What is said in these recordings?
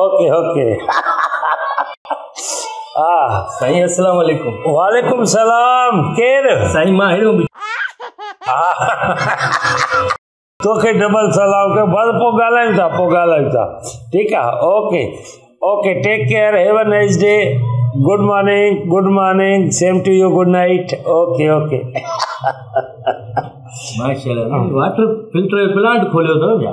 Okay okay ها سائين السلام عليڪم وعليڪم السلام ڪير سائين مان هيرو توکي ڊبل سلام ڪيو بس پو ڳالهايون ٿا پو ڳالهايون ٿا ٺيڪ آ okay okay take care have a nice day good morning good morning same to you good night okay okay ماشاءالله واٽر فلٽر پلانٽ کوليو اٿو ڇا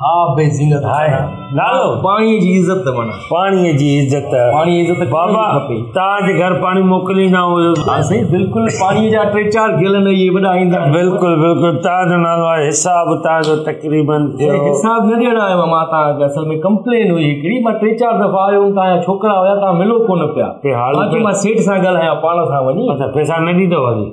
آب بي زينت هاء نالو پاڻي جي عزت من پاڻي جي عزت پاڻي عزت بابا تاج گھر پاڻي موڪليندا هو ها سائين بالکل پاڻي جا ٽي چار گيل نه يي وڏا ايندا بالکل بالکل تاج نالو آهي حساب تاج تقريبا حساب نه ڏيڻ آيو ما تا اصل ۾ ڪمپلين هئي هڪڙي ما ٽي چار دفعا آيو تا ڇوڪرا هيا تا ملو ڪون پيا ها جي ما سيٺ سان ڳالهايا پاڻ سان وڃي اچا پيسا نه ڏيندو هو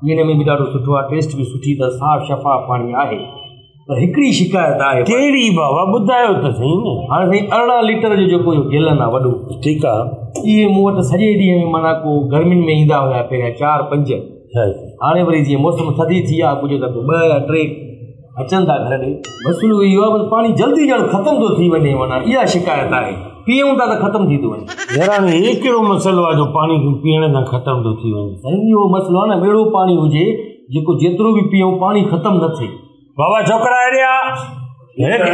پيئڻ ۾ به ڏاڍو سٺو آهي ٽيسٽ به سٺي اٿس صاف شفاف پاڻي آهي پر هڪڙي شڪايت آهي ڪهڙي بابا ٻڌايو ته سهي نه هاڻي سائين ارڙهن ليٽر جو جيڪو اهو گيلن آهي وڏو ٺيڪ آهي اهي مون وٽ سڄي ڏينهن ۾ معنيٰ ڪو گرمين ۾ ايندا هيا پهريان چار پنج هاڻي وري جيئن موسم ٿڌي ٿي آهي ڪجهه ته ٻه يا ٽي اچن ٿا گهر ڏي. مسئلو اهو آهي بس پاڻي جلدي ڄڻ ختم ٿو ٿي وڃي معنيٰ اها شڪايت آهي پيئون ٿا ته ختم ٿي ٿو وڃي. يار هاڻي هي ڪهڙو مسئلو آهي جو پاڻي کي پيئڻ سان ختم ٿو ٿي وڃي. سائين جي اهو مسئلو آهي نه اهڙو پاڻي هجي جيڪو جيترو به پيئون پاڻي ختم نه ٿئي. بابا ڇوڪرا هيڏي آ هن کي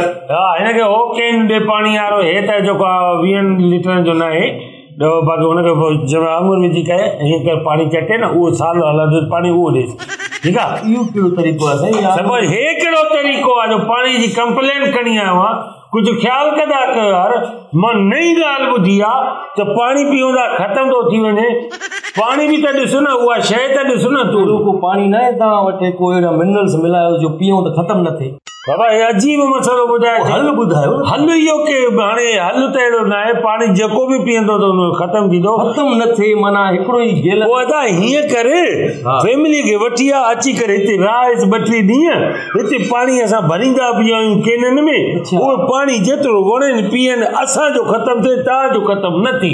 هن کي هو ڪين ڏي پاڻي وارو هي ته جيڪو آ ويهن ليٽرن جو ناهي. ڏهو پاڪي ان کي پوء جنهن ۾ آڱر وجهي ڪري ائين ڪري پاڻي چٽي نه اهو سال هلندو پاڻي اهو ڏيس ٺيڪ آ اهو ڪهڙو طريقو آ سائين يار سمجھ هي ڪهڙو طريقو آ جو پاڻي جي ڪمپلين کڻي آيو آ ڪجھ خيال ڪندا ڪيو يار مان نئين ڳالھ ٻڌي آ ته پاڻي پيئون ٿا ختم ٿو ٿي وڃي پاڻي به ته ڏس نه اها شيء ته ڏس نه تون اهڙو ڪو پاڻي ناهي توهان وٽ ڪو اهڙا منرلس ملايو جو پيئون ته ختم نه ٿئي. بابا هي عجيب مسئلو ٻڌايو ٿي حل ٻڌايو حل اهو ڪي هاڻي حل ته اهڙو نه آهي پاڻي جيڪو به پيئندو ته انهو ختم ٿيندو ختم نه ٿئي معنيٰ هڪڙو ئي جيل پوء ادا هيئن ڪر فيملي کي وٺي آ اچي ڪري هتي رهائس ٻه ٽي ڏينهن هتي پاڻي اسان ڀريندا به آهيون ڪينن ۾ اهو پاڻي جيترو وڻين پيئن اسان جو ختم ٿئي تان جو ختم نه ٿئي